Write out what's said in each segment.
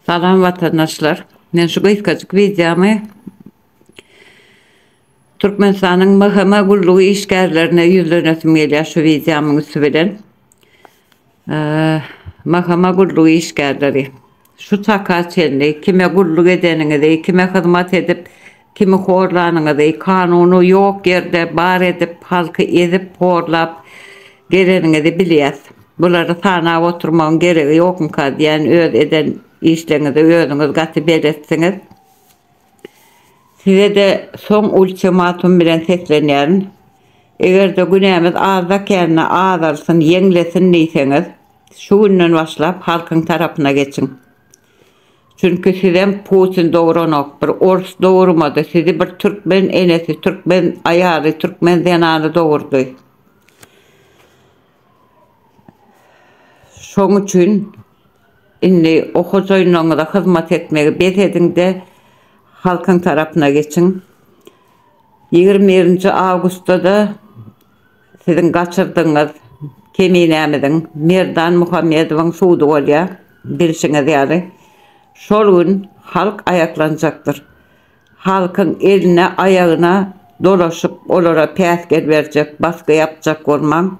Salam watandaşlar. Men şu gysgajyk wideomy Türkmenistanyň MHM gullugy işgärlerine ýüzlenesim gelýär şu wideomyň üsti bilen. Mahkama gullugy işgärleri, şu çaka çenli kime gulluk edeniňizi, kime hyzmat edip, kimi horlanyňyzy, kanuny ýok ýerde bar edip, halky ezip, horlap geleniňizi bilýäs. Bulary sanap oturmagyň geregi ýokmyka diýýän, öz eden işleriňize özüňiz gaty beletdiňiz. Size-de soň ultimatum bilen seslenýärin. Eger-de günämiz azda kände azalsyn, ýeňlesin diýseňiz, şu günden başlap halkyň tarapyna geçiň. Çünki sizem Putin dogranok, bir ors dogurmady, sizi bir türkmen enesi, türkmen aýaly, türkmen zenany dogurdy. Şoň üçin indi okyjynyňyza hyzmat etmegi bes ediň-de, halkyň tarapyna geçiň. Ýigrimi birinji awgustda-da siziň gaçyrdygyňyz Keminämiziň, Merdan Muhammedowyň sudy bolýar, bilşiňiz ýaly. Şol gün halk aýaklanjakdyr. halkyň eline, aýagyna dolaşyp, olara päsgel berjek, basgy ýapjak bolmaň.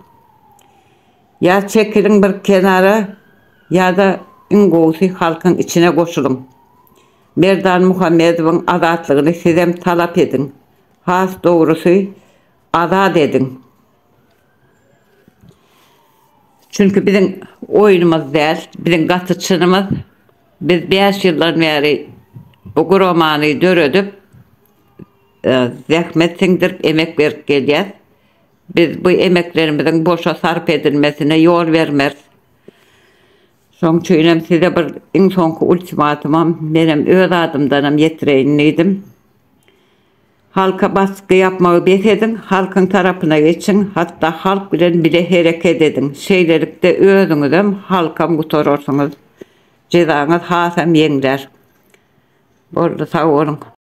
Ýa çekiliň bir kenara, ýa-da iň gowusy halkyň içine goşulyň. Merdan Muhammedowyň azatlygyny sizem talap ediň. Has dogrusy, azat ediň. Çünki biziň oýnumyz däl, biziň gaty çynymyz. Biz bäş ýyldan bäri bu guramany döredip, e, zähmet siňdirip, emek berip gelýäs. Biz bu emeklerimiziň boşa sarp edilmesine ýol bermeris. Şoň üçin hem size bir iň soňky ultimatumam menem öz adymdanam ýetireýin diýdim. Halka basky ýapmagy bes ediň, halkyň tarapyna geçiň, hatda halk bilen bile hereket ediň, şeýlelikde özüňizem, halkam gutararsyňyz, jezaňyz hasam ýeňlär. Boldy, sag boluň.